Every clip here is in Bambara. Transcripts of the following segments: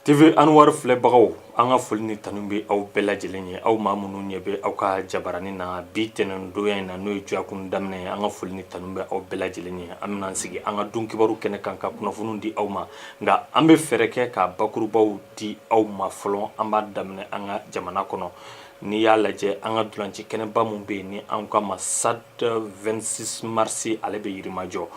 TV Anwar filɛbagaw an ka foli ni tanu bɛ aw bɛɛ lajɛlen ye aw maa minnu ɲɛ bɛ aw ka jabarani na bi tɛnɛndonya in na n'o ye dɔgɔkun daminɛ ye an ka foli ni tanu bɛ aw bɛɛ lajɛlen ye an bɛna an sigi an ka don kibaru kɛnɛ kan ka kunnafoniw di aw ma nka an bɛ fɛɛrɛ kɛ ka bakurubaw di aw ma fɔlɔ an b'a daminɛ an ka jamana kɔnɔ n'i y'a lajɛ an ka dulanci kɛnɛba min bɛ yen ni an k'a ma stade 26 marisi ale bɛ yirimajɔ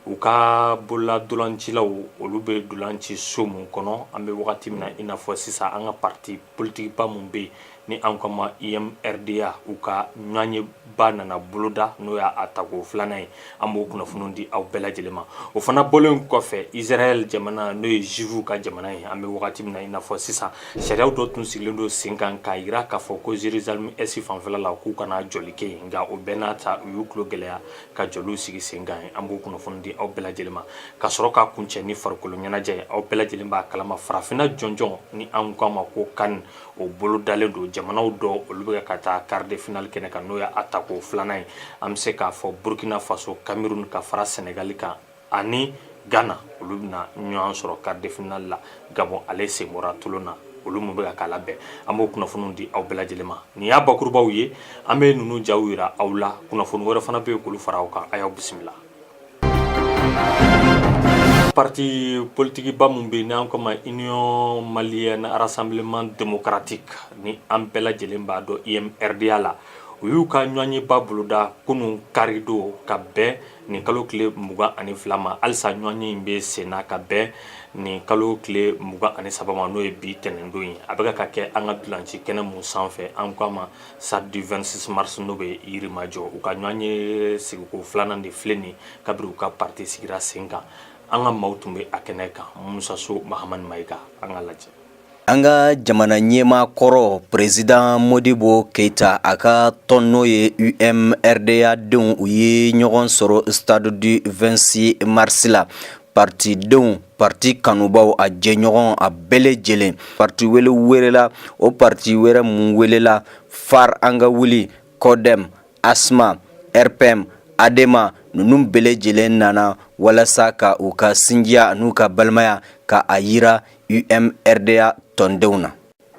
U ka bolola dolancilaw olu bɛ dolan ci so min kɔnɔ an bɛ wagati min na i n'a fɔ sisan an ka pati politigiba min bɛ yen ni an k'a ma UMRDA u ka ɲɔgɔnyeba nana boloda n'o y'a tako filanan ye an b'o kunnafoni di aw bɛɛ lajɛlen ma o fana bɔlen kɔfɛ izrail jamana n'o ye juifu ka jamana ye an bɛ wagati min na i n'a fɔ sisan sariyaw dɔ tun sigilen don sen kan k'a jira k'a fɔ ko Jérusalem Est fanfɛ la k'u kana jɔli kɛ yen nka o bɛɛ n'a ta u y'u tulo gɛlɛya ka jɔliw sigi sen kan yen an b'o kunnafoni di aw bɛɛ lajɛlen ma ka sɔrɔ ka kuncɛ ni farikolo ɲɛnajɛ ye aw bɛɛ lajɛlen b'a kalama farafinna jɔnjɔn ni an ko a ma ko CAN o bolodalen don jamanaw dɔ olu bɛ ka taa quart de finale kɛnɛ kan n'o ye a tako filanan ye an bɛ se k'a fɔ burkina faso cameroun ka fara senegali kan ani gana olu bɛna ɲɔgɔn sɔrɔ quart de finale la gabɔn ale sen bɔra tulon na olu minnu bɛ ka k'a labɛn an b'o kunnafoniw di aw bɛɛ lajɛlen ma nin y'a bakurubaw ye an bɛ ninnu jaw jira aw la kunnafoni wɛrɛ fana bɛ yen k'olu fara aw kan a y'aw bisimila pati politigiba min bɛ yen n'an k'a ma Union Malienne Rassemblement Démocratique ni an bɛɛ lajɛlen b'a dɔn UMRDA la u y'u ka ɲɔgɔnyeba boloda kunun karidon ka bɛn nin kalo tile mugan ani fila ma halisa ɲɔgɔnye in bɛ sen na ka bɛn nin kalo tile mugan ani saba ma n'o ye bi tɛnɛndon ye a bɛka ka kɛ an ka dulanci kɛnɛ mun sanfɛ an k'a ma stade du 26 marisi n'o bɛ yirimajɔ u ka ɲɔgɔnye sigiko filanan de filɛ nin kabiri u ka parti sigira sen kan an ka maaw tun bɛ a kɛnɛ kan Musa So Mahamani Mayiga an ka lajɛ An ka jamana ɲɛmaa kɔrɔ président Modibo Keyita a ka tɔn n'o ye UMRDA denw u ye ɲɔgɔn sɔrɔ stade du 26 marisi la patidenw pati kanubaw a jɛɲɔgɔn a bɛɛ lajɛlen pati wele wɛrɛla o pati wɛrɛ minnu welela FARE an ka wuli CODEM ASMA RPM ADEMA ninnu bɛɛ lajɛlen nana walasa ka u ka sinjiya n'u ka balimaya ka a jira UMRDA tɔndenw na.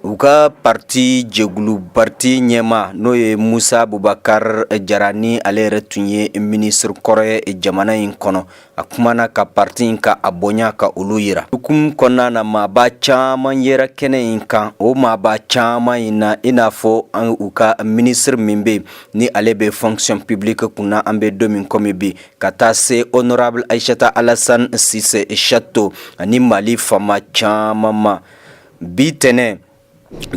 U ka parti jɛkulu parti ɲɛmaa n'o ye Musa Bubakari Jara ni ale yɛrɛ tun ye ministre kɔrɔ ye jamana in kɔnɔ, a kumana ka parti in ka a bonya ka olu jira. Hukumu kɔnɔna na maaba caman yera kɛnɛ in kan, o maaba caman in na i n'a fɔ u ka ministre min bɛ yen ni ale bɛ fonction publique kunna an bɛ don min komi bi, ka taa se honorable aishata alassane cissé chato ani mali faama caman ma bi tɛnɛ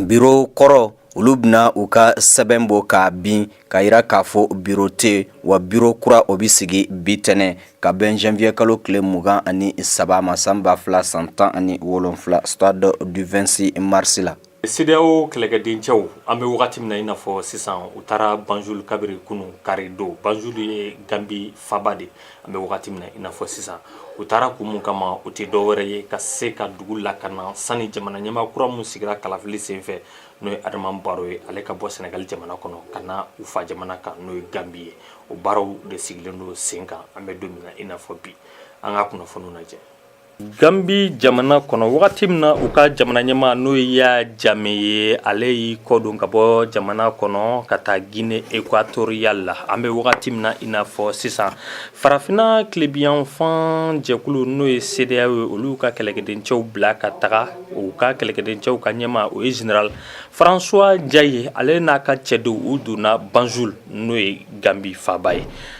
biro kɔrɔ olu bɛna u ka sɛbɛn bɔ k'a bin k'a yira k'a fɔ biro tɛ wa biro kura o bɛ sigi bi tɛnɛ ka bɛn janvier kalo tile mugan ani saba ma san ba fila san tan ani wolonfila stade du 26 mars la CEDEAO kɛlɛkɛdencɛw an bɛ wagati min na i n'a fɔ sisan u taara Banjul kabiri kunun karidon Banjul ye Gambie faaba de an bɛ wagati min na i n'a fɔ sisan u taara kun min kama o tɛ dɔwɛrɛ ye ka se ka dugu lakana sani jamana ɲɛmaa kura min sigira kalafili senfɛ n'o ye Adama Barrow ye ale ka bɔ Senegal jamana kɔnɔ ka na u fa jamana kan n'o ye Gambie ye o baaraw de sigilen don sen kan an bɛ don min na i n'a fɔ bi an ka kunnafoniw lajɛ. Gambie jamana kɔnɔ wagati min na u ka jamana ɲɛmaa n'o ye Yaya Jame ye ale y'i kɔdon ka bɔ jamana kɔnɔ ka taa Guinee Equatoriale la an bɛ wagati min na i n'a fɔ sisan farafinna tilebinyanfan jɛkulu n'o ye CEDEAO ye olu ka kɛlɛkɛdencɛw bila ka taga u ka kɛlɛkɛdencɛw ka ɲɛmaa o ye général François Ndiaye ale n'a ka cɛdenw u donna Banjul n'o ye Gambie faaba ye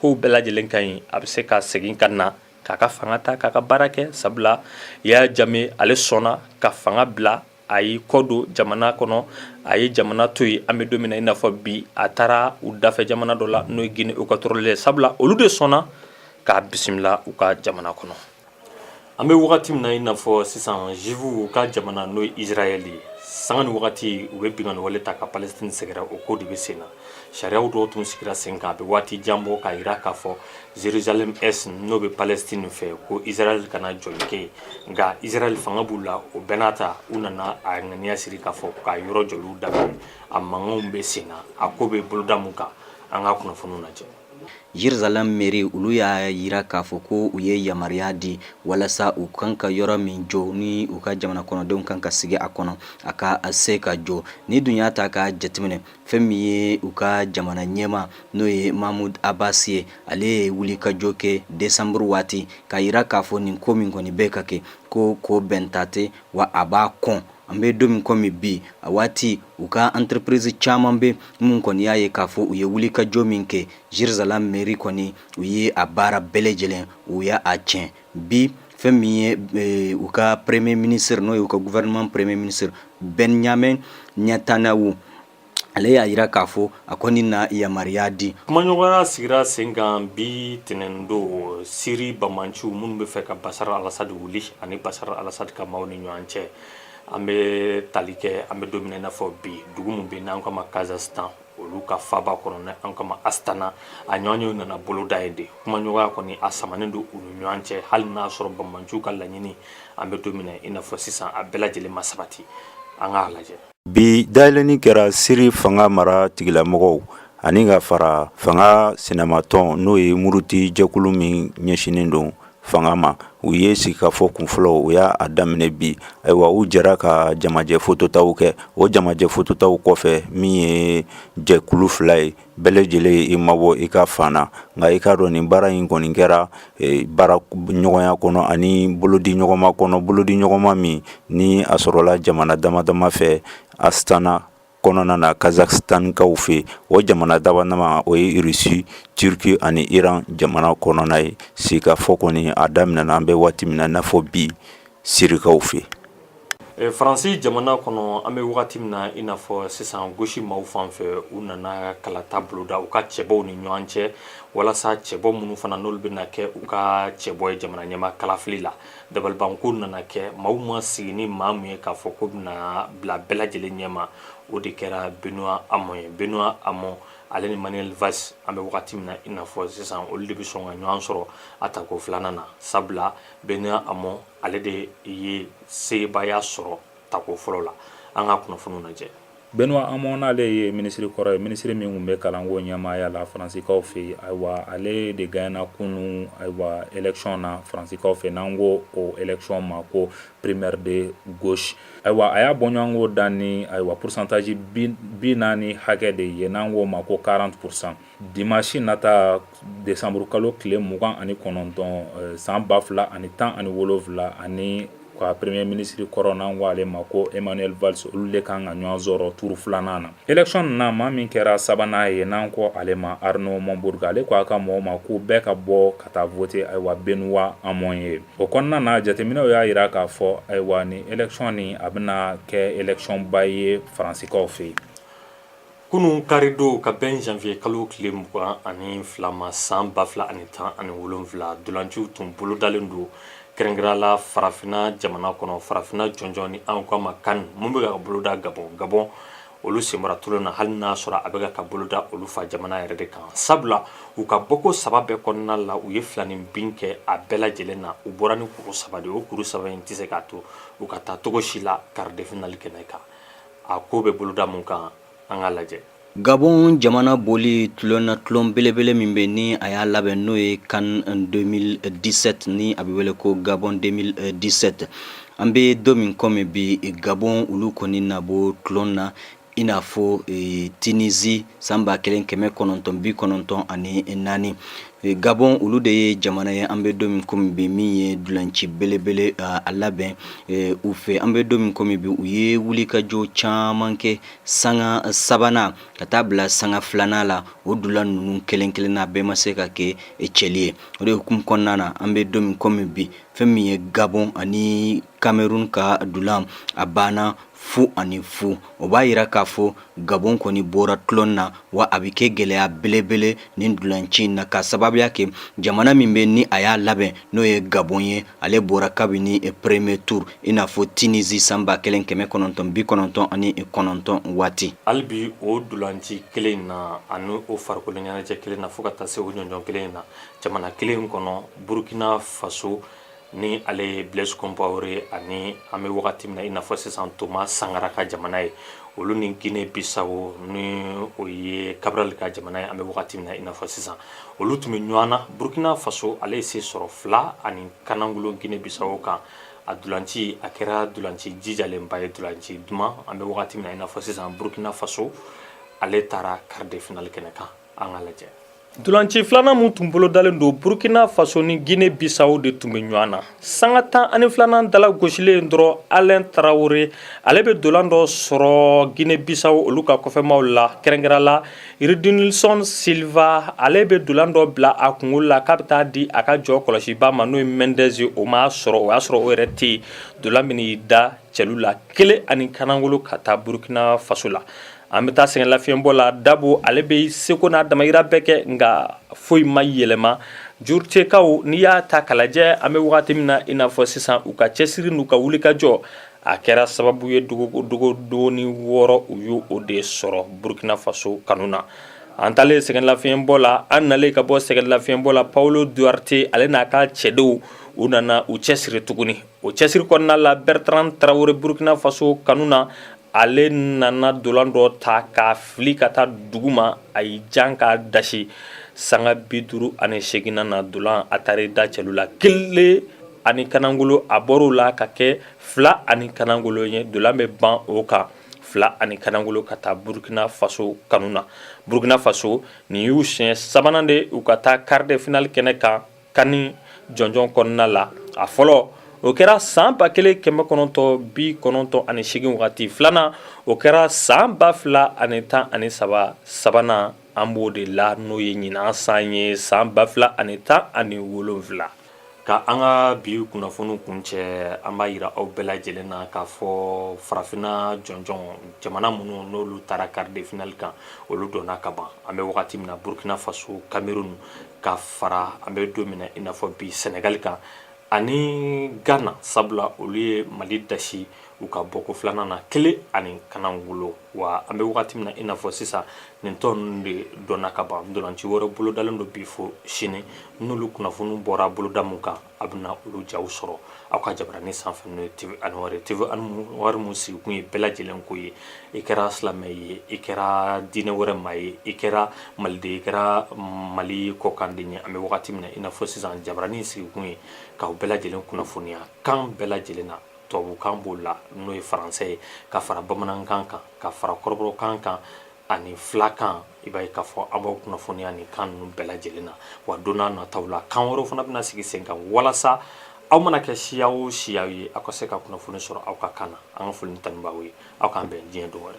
ko bɛɛ lajɛlen ka ɲi a bɛ se ka segin ka na k'a ka fanga ta k'a ka baara kɛ sabula Yaya Jame ale sɔnna ka fanga bila a y'i kɔ don jamana kɔnɔ a ye jamana to yen an bɛ don min na i n'a fɔ bi a taara u dafɛ jamana dɔ la n'o ye Guinee Equatoriale ye sabula olu de sɔnna k'a bisimila u ka jamana kɔnɔ An bɛ wagati min na i n'a fɔ sisan juifuw ka jamana n'o ye Israël ye, sanga ni wagati u bɛ binkanni wale ta ka Palestine sɛgɛrɛ o ko de bɛ sen na. Sariyaw dɔw tun sigira sen kan a bɛ waati jan bɔ k'a jira k'a fɔ Jerusalem Est n'o bɛ Palestine fɛ ko Israël kana jɔli kɛ yen, nka Israël fanga b'u la, o bɛɛ n'a ta u nana a ŋaniya siri k'a fɔ k'a yɔrɔ jɔliw daminɛ, a mankanw bɛ sen na, a ko bɛ boloda min kan, an ka kunnafoniw lajɛ. Jerusalem mairie olu y'a jira k'a fɔ ko u ye yamaruya di walasa u kan ka yɔrɔ min jɔ ni u ka jamana kɔnɔdenw kan ka sigi a kɔnɔ a ka se ka jɔ n'i dun y'a ta k'a jateminɛ fɛn min ye u ka jamana ɲɛmaa n'o ye Mahmoud Abbas ye ale ye wuli ka jɔ kɛ desanburu waati k'a jira k'a fɔ nin ko min kɔni bɛ ka kɛ ko ko bɛnta tɛ wa a b'a kɔn an bɛ don min kɔmi bi a waati u ka entreprise caman bɛ minnu kɔni y'a ye k'a fɔ u ye wuli ka jɔ min kɛ Jérusalem mairie kɔni u ye a baara bɛɛ lajɛlen u y'a tiɲɛ bi fɛn min ye e, u ka premier ministre n'o y'u ka gouvernement premier ministre Benjamin Netanyahu ale y'a jira k'a fɔ a kɔni na yamaruya di kumaɲɔgɔnya sigira sen kan bi tɛnɛn don Siri banbaanciw minnu bɛ fɛ ka Bashar al-Assad wuli ani Bashar al-Assad ka maaw ni ɲɔgɔn cɛ an bɛ tali kɛ an bɛ don min i n'a fɔ bi dugu min bɛ n'an k'a ma Kazakhstan olu ka faaba kɔnɔ n'an k'a ma Astana a ɲɔgɔnye nana boloda yen de kumaɲɔgɔnya kɔni a samanen don u ni ɲɔgɔn cɛ hali n'a sɔrɔ banbaanciw ka laɲini an bɛ don min i n'a fɔ sisan a bɛɛ lajɛlen ma sabati an k'a lajɛ Bi dayɛlɛnni kɛra siri fanga mara tigilamɔgɔw ani ka fara fanga sinamatɔn n'o ye muruti jɛkulu min ɲɛsinnen don fanga ma u ye sigikafɔ kunfɔlɔ u y'a daminɛ bi ayiwa u jɛra ka jamajɛfotota kɛ o jamajɛfotota kɔfɛ min ye jɛkulu fila ye bɛɛ lajɛlen ye i mabɔ i ka fan na nka i k'a dɔn nin baara in kɔni kɛra eh, baara ɲɔgɔnya kɔnɔ ani bolodi ɲɔgɔnma kɔnɔ bolodi ɲɔgɔnma min ni a sɔrɔla jamana dama dama fɛ astana kɔnɔna na kazakhstankaw fɛ o jamana dama dama o ye irisi turki ani iran jamana kɔnɔna ye sigikafɔ kɔni a daminɛna an bɛ waati min na i n'a fɔ bi sirikaw fɛ Faransi jamana kɔnɔ an bɛ wagati min na i n'a fɔ sisan gauche maaw fan fɛ u nana kalata boloda u ka cɛbɔw ni ɲɔgɔn cɛ walasa cɛbɔ minnu fana n'olu bɛna kɛ u ka cɛbɔ ye jamana ɲɛmaa kalafili la dabalibanko nana kɛ maaw ma sigi ni maa min ye k'a fɔ k'o bɛna bila bɛɛ lajɛlen ɲɛma o de kɛra Benoît Hamon ye Benoît Hamon ale ni Manuel Valls an bɛ wagati min na i n'a fɔ sisan olu de bɛ sɔn ka ɲɔgɔn sɔrɔ a tako filanan na sabula Benoît Hamon ale de ye sebaaya sɔrɔ tako fɔlɔ la an ka kunnafoni lajɛ Benoît Hamon n'ale ye minisiri kɔrɔ ye minisiri min tun bɛ kalanko ɲɛmaaya la faransikaw fɛ yen ayiwa ale de gaɲɛna kunun ayiwa élection na faransikaw fɛ n'an ko o élection ma ko primaire de gauche ayiwa a y'a bɔɲɔgɔnko dan ni ayiwa pourcentage bi naani hakɛ de ye n'an k'o ma ko quarante pour cent Dimasi nata desanburukalo tile mugan ani kɔnɔntɔn san ba fila ani tan ani wolofila ani ka premier ministre kɔrɔ n'an k'ale ma ko Emmanuel Valls olu de kan ka ɲɔgɔn sɔrɔ tuuru filanan na élection na maa min kɛra sabanan ye n'an ko ale ma Arnaud Montebourg ale k'a ka mɔgɔw ma ko bɛɛ ka bɔ ka taa voter ayiwa Benoît Hamon ye o kɔnɔna na jateminɛw y'a jira k'a fɔ ayiwa nin élection nin a bɛna kɛ élection ba ye faransikaw fɛ yen Kunun karidon ka bɛn janvier kalo tile mugan ani fila ma san ba fila ani tan ani wolonwula dulanciw tun bolodalen don kɛrɛnkɛrɛn la farafinna jamana kɔnɔ farafinna jɔnjɔn ni an k'a ma CAN min bɛ ka boloda Gabon Gabon olu sen bɔra tulon na hali n'a sɔrɔ a bɛ ka boloda olu fa jamana yɛrɛ de kan sabula u ka bɔko saba bɛɛ kɔnɔna la u ye filaninbin kɛ a bɛɛ lajɛlen na u bɔra ni kuru saba de o kuru saba in tɛ se k'a to u ka taa cogo si la quart de finale kɛnɛ kan A ko bɛ boloda mun kan an ka lajɛ Gabon jamana bɔli tulon na tulon belebele min bɛ ni a y'a labɛn n'o ye CAN 2017 ni a bɛ wele ko Gabon 2017 an bɛ don min kɔmi bi Gabon olu kɔni na bɔ tulon na i n'a fɔ e, Tunisie san ba kelen kɛmɛ kɔnɔntɔn bi kɔnɔntɔn ani naani Gabon olu de ye jamana ye an bɛ don min kɔmi bi min ye dulanci belebele a labɛn u fɛ an bɛ don min kɔmi bi u ye wulikajɔ caman kɛ sanga sabanan ka taa bila sanga filanan la o dulan ninnu kelenkelen na bɛɛ ma se ka kɛ cɛli ye o de hukumu kɔnɔna na an bɛ don min kɔmi bi fɛn min ye Gabon ani kamerun ka dulan a banna fu ani fu o b'a yira k'a fɔ gabon kɔni bɔra tulon na wa a bɛ kɛ gɛlɛya belebele nin dulanci in na k'a sababuya kɛ jamana min bɛ ni a y'a labɛn n'o ye gabon ye ale bɔra kabini premier tour i n'a fɔ tunisie san ba kelen kɛmɛ kɔnɔntɔn bi kɔnɔntɔn ani kɔnɔntɔn waati hali bi o dulanci kelen in na ani o farikolo ɲɛnajɛ kelen na fo ka taa se o jɔnjɔn kelen in na jamana kelen in kɔnɔ burkina faso ni ale ye blaise compaore ani an bɛ wagati min na i n'a fɔ sisan Thomas Sankara ka jamana ye olu ni Guinée Bissau ni o ye Cabral ka jamana ye an bɛ wagati min na i n'a fɔ sisan olu tun bɛ ɲɔgɔn na Burkina Faso ale ye se sɔrɔ fila ani kanangolo Guinée Bissau kan a dulanci a kɛra dulanci jijalenba ye dulanci duman an bɛ wagati min na i n'a fɔ sisan Burkina Faso ale taara quart de finale kɛnɛ kan an ka lajɛ dulanci filanan min tun bolodalen don Burkina Faso ni Guinee Bissau de tun bɛ ɲɔgɔn na. Sanga tan ani filanan dala gosilen dɔrɔn Alain Traore ale bɛ dolan dɔ sɔrɔ Guinee Bissau olu ka kɔfɛmaaw la, kɛrɛnkɛrɛn la Rudinilson Silva ale bɛ dolan dɔ bila a kunkolo la k'a bɛ taa di a ka jɔkɔlɔsiba ma n'o ye Mendes ye, o m'a sɔrɔ, o y'a sɔrɔ o yɛrɛ tɛ yen, dolan bɛ n'i da cɛlu la kelen ani kanangolo ka taa burkina faso la an bɛ taa sɛgɛn lafiɲɛbɔ la dabo ale bɛ seko n'a damayira bɛɛ kɛ nka foyi ma yɛlɛma jurutekaw n'i y'a ta k'a lajɛ an bɛ wagati min na i n'a fɔ sisan u ka cɛsiri n'u ka wulikajɔ a kɛra sababu ye dogodogonin wɔɔrɔ u y' o de sɔrɔ burkina faso kanu na an taalen sɛgɛn lafiɲɛbɔ la an nalen ka bɔ sɛgɛn lafiɲɛbɔ la paolo duarte ale n'a ka cɛdenw u nana u cɛsiri tuguni O cɛsiri kɔnɔna la Bertrand Traore Burkina Faso kanu na, ale nana dolan dɔ ta k'a fili ka taa dugu ma, a y'i jan k'a dasi sanga 58 nan na dolan a taar'i da celu la kelen ani kanagolo, a bɔr'o la ka kɛ fila ani kanagolo ye, dolan bɛ ban o kan fila ani kanagolo ka taa Burkina Faso kanu na, Burkina Faso nin y'u siɲɛ sabanan de ye u ka taa quart de finale kɛnɛ kan. Kani jɔnjɔn kɔnɔna la a fɔlɔ o kɛra san ba kelen kɛmɛ kɔnɔntɔn bi kɔnɔntɔn ani seegin wagati filanan o kɛra san ba fila ani tan ani saba sabanan an b'o de la n'o ye ɲinan san ye san ba fila ani tan ani wolonfila ka an ka bi kunnafoni kuncɛ an b'a yira aw bɛɛ lajɛlen na k'a fɔ farafinna jɔnjɔn jamana minnu n'olu taara quart de finale kan olu dɔnna ka ban an bɛ wagati min na Burkina Faso Cameroun ka fara an bɛ don min na i n'a fɔ bi sɛnɛgali kan ani gana sabula olu ye mali dasi u ka bɔko filanan na kelen ani kanagolo wa an bɛ wagati min na i n'a fɔ sisan nin tɔnw de dɔnna ka ban dolanci wɛrɛ bolodalen don bi fo sini n'olu kunnafoniw bɔra boloda mun kan a bɛna olu jaw sɔrɔ aw ka jabaranin sanfɛ n'o ye TV Anwari TV Anwari mun sigikun ye bɛɛ lajɛlen ko ye i kɛra silamɛ ye i kɛra diinɛ wɛrɛ maa ye i kɛra maliden i kɛra mali kɔkanden ye an bɛ wagati min na i n'a fɔ sisan jabaranin sigikun ye k'aw bɛɛ lajɛlen kunnafoniya kan bɛɛ lajɛlen na tubabukan b'o la n'o ye faransɛ ye ka fara bamanankan kan ka fara kɔrɔbɔrɔkan kan ani filakan i b'a ye k'a fɔ an b'aw kunnafoniya nin kan ninnu bɛɛ lajɛlen na wa don n'a nataw la kan wɛrɛw fana bɛna sigi sen kan walasa aw mana kɛ siya o siya ye aw ka se ka kunnafoni sɔrɔ aw ka kan na an ka foli ni tanu b'aw ye aw k'an bɛn diɲɛ don wɛrɛ